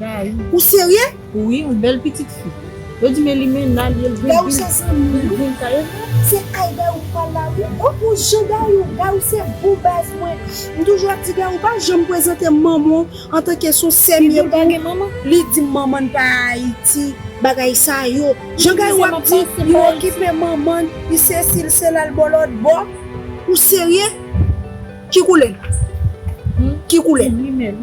Gari. Ou serye? Wi, yon bèl pitit fi. Yo di men li men nan li el gen vil. Gayou se zanmim wi. Sa ye vre? Se ay gayou m pral la wi. Bon pou jan gayou. Gayou se bon baz mwen. M toujou ap di gayou pa janm prezante manman w antanke son sèm ye pou li di manman n pa ayiti bagay sa yo. Jan gayou ap di li okipe manman n li sesi li sela l bò lòt bò. Ou serye? Ki koulè? Ki koulè? Li menm.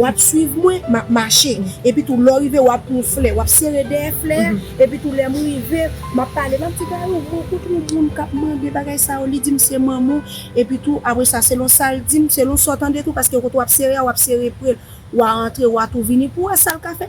Wap swiv mwen, map mache. Epitou lè w rive wap pran yon flè, wap sere dèyè flè a, epitou lè m rive, map pale, map di Gayou, mwen koute yon moun kap mande bagay sa yo, li di m se manman w, epitou apre sa selon sa l di m, selon sa w tande tou, paske kote wap sere a wap sere pre l, wa antre wa tou vini pou w wè sa l ka fè.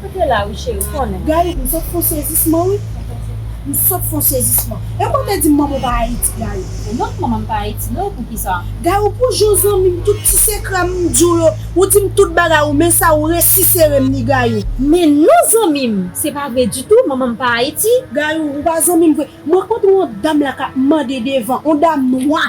Ou te la wi cheri konnen. Gayou m sot fon sezisman wi m sot fon sezisman epi ou te dim manman w pa ayiti gayou. Non manman m pa ayiti non poukisa. Gayou pou jou zanmim tout ti sekre m m diw yo ou dim tout bagay ou men sa ou resi serem ni gayou. Men non zanmim se pa vre ditou manman m pa ayiti. Gayou ou pa zanmim vre. M rankontre yon dam la kap mande devan, yon dam nwa.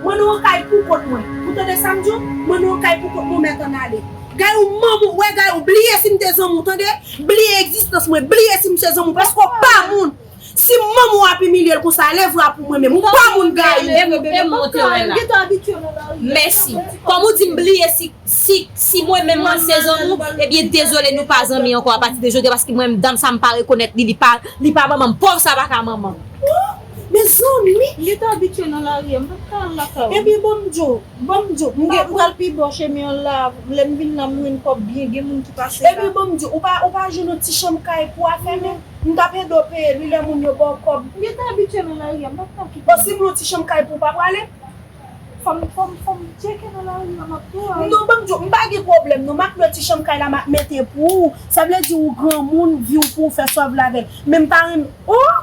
Mwen nou an kay pou kont mwen. Ou tande sam di w? Mwen nou an kay pou kont mwen mèt ann ale. Gayou manman w wè gayou bliye si m te zanmi w tande bliye egzistans mwen bliye si m se zanmi w paske w pa moun si manman w ap imilye l konsa lève w a pou mwen menm ou pa moun gayou. E m e m ou te wè la. Mèsi. Kòm ou di m bliye si si si mwen menm mwen se zanmi w ebyen dezole nou pa zanmi ankò apati de jodi a paske mwen menm dam sa m pa rekonèt li li pa li pa manman m pòv sa pa ka manman m. Mezanmi! M gen tan abitye nan lari a, m pa t ka al lakay ou. Ebyen ban m djo, ban m djo. M pral pi bò chemen an la a, lè m vin la m jwenn kòb byen, gen moun ki pase la. Ebyen ban m djo, ou pa jwenn yon ti chanm kay pou a fèmen? M t ap ede w peye li lè moun yo ba w kòb. M gen tan abitye nan lari a, m pa t ka kite. Bon, si m yon ti chanm kay pou ou, w pa prale? Fò m, fò m, fò m tyeke nan lari a, m ap pran. Non, ban m djo, m pa gen pwoblèm non, m ap lwe ti chanm kay la m ap mete pou ou. Sa vle di ou granmoun, vi w pou ou fè sa w vle avè l. Men m pa renmen, oh!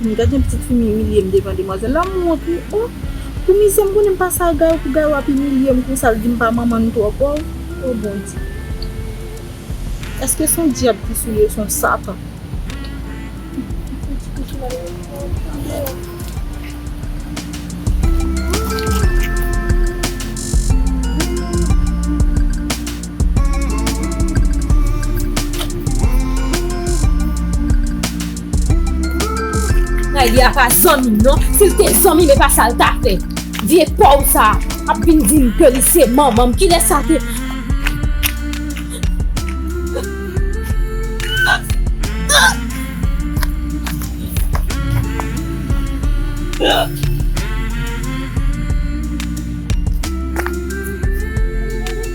M gad yon pitit fi m imilye m devan demwazèl la m wont wi oh pou mizè m konnen m pa sa Gayou pou Gayou ap imilye m konsa l di m pa manman n twò pòv oh Bondye èske son dyab ki sou li ou son satan. Riley a pa zanmi m non, si l te zanmi m e pa sa l ta fè. Vye pòv sa a ap vin di m ke li se manman m, kilè sa te.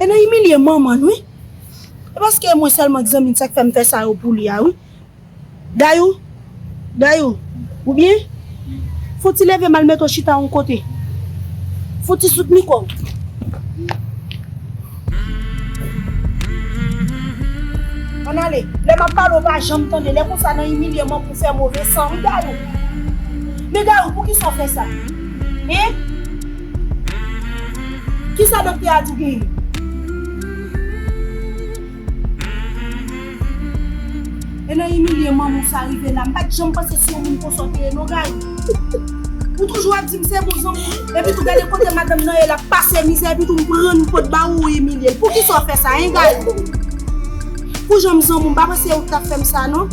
E nan imilye manman n wi. E paske mwen sèlman k zanmi l sa k fè m fè sa yo pou li a wi. Dayou, Dayou, ou byen? Fon ti leve m al mete w chita yon kote. Fon ti soutni kò w. Ann ale. Lè m ap pale w pa janm tande. Lè konsa nan imilye manman w fè move san wi Dayou. Men Dayou poukisa w fè sa? Hein? Kisa doktè a di pou ou? E nan imilye manman w sa rive la. M pat janm panse se yon moun konsa w te ye non Gaëlle. Ou toujou ap di m se bon zanmi m. Epitou gade kote madanm nan ye lap pase mizè epitou m pran yon pot ba ou ou imilye l. Poukisa w fè sa hein Gaëlle? Pou jan m zanmi w m pa panse ou t tap fè m sa non.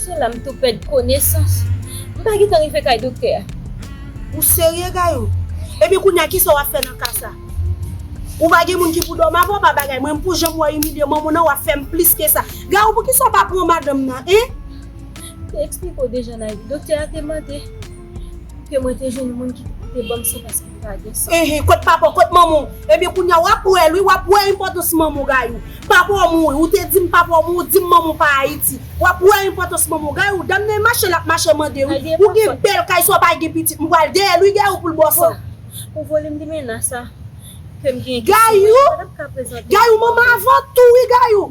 Se la m tou pèd konesans. M pa gentan rive kay doktè a. Ou serye Gayou? Ebyen kounye a kisa w ap fè nan ka sa? Ou pa gen moun ki pou dòmi avè w pa bagay men pou jan m wè w imilye manman w nan w ap fè m plis ke sa. Gayou poukisa w pa pran madanm nan en? M te eksplike w deja Nayou. Doktè a te mande. Ke mwen te jwenn moun ki te banm san paske li pa gen san. Enhen kot papa w kot manman w. Ebyen kounya wap wè l wi wap wè enpòtans manman w Gayou. Papa w mouri ou te dim papa w mouri ou dim manman w pa Ayiti. Wap wè enpòtans manman w. Gayou dam nan e mache lap mache mande wi. Ou gen bèl kay swa pa gen pitit m pral dèyè l wi Gayou pou l ba w san. Pou volim limena sa kem genyen ki sou mwen m patap ka prezante l. Gayou manman avan tou wi Gayou.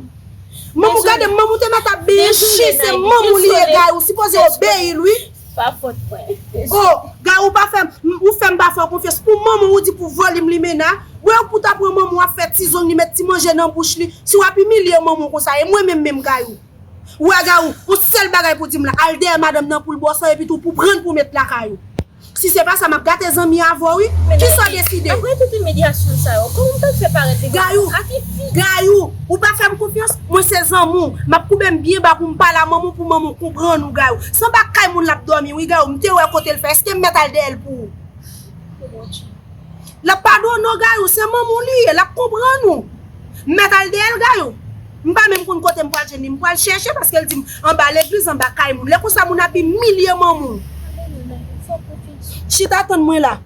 Manman w gade manman w te mèt ap benyen chien se manman w li ye Gayou sipoze obeyi l wi. Pa pot mwen. Oh Gary ou pa fèm ou fèm pa fèw konfyans pou manmanw ou di pou volim limena wew pou ta pran manmanw ap fè ti zong li met ti manje nan bouch li si wap imilye manmanw konsa e mwen menm menm Gary wè Gary on sèl bagay pou dim la al dèyè madanm nan poul bòsò epi tou pou prann pou met lakay ou si se pa sa map gate zanmi avèw wi kisaw deside. Aprè tout imilyasyon sa yo kòman mtap fè parèt li Gary ou ak yn fi. Gary ou pa fèm konfyans mwen se zanmiw map koubem byen ba poum pale a manmanw pou manmanw konprann ou Gary. Sanba kay moun lap domi wi gayou mte wè kotel fè eskem mèt al dèyèl pou ou. Pou bondye. Lap padone w gayou se manman w li ye lap konprann ou m mèt al dèyèl gayou m pa menm konn kotem pral jwenn li m pral chèche paskel dim anba legliz anba kay moun lè konsa moun ap imilye manman w chita tann mwen la.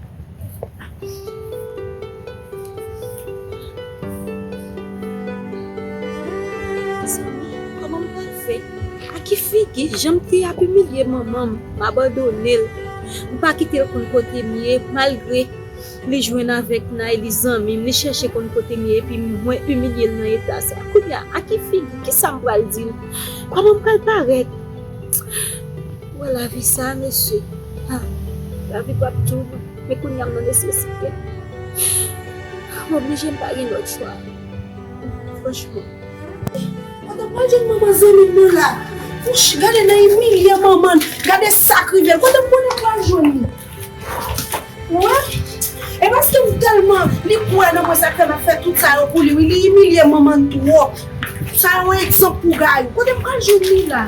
Mezanmi koman m pral fè a ki figi jan m te ap imilye manman m m abandone l m pa kite l konn kote m ye malgre li jwenn avèk Nay li zanmi m li chèche konn kote m ye epi mwen imilye l nan eta sa kounya a ki figi kisa m pral di l koman m pral parèt wè lavi sa mesye ha lavi pap tjou bon. Men kounye a m nan nesesite. M oblije m pa gen lòt chwa. Franchman. Mwen ta pral jwenn manman zanmi m nan la. Wouch! Gade nan imilye manman l. Gade sa k rive l. Kote m konnen m pral jwenn li? Ou wè? E paske m tèlman. Li kwè nan mwen sa k fè m ap fè tout sa yo pou li wi. Li imilye manman l twòp. Sa yon egzanp pou Gayou. Kote m pral jwenn li la?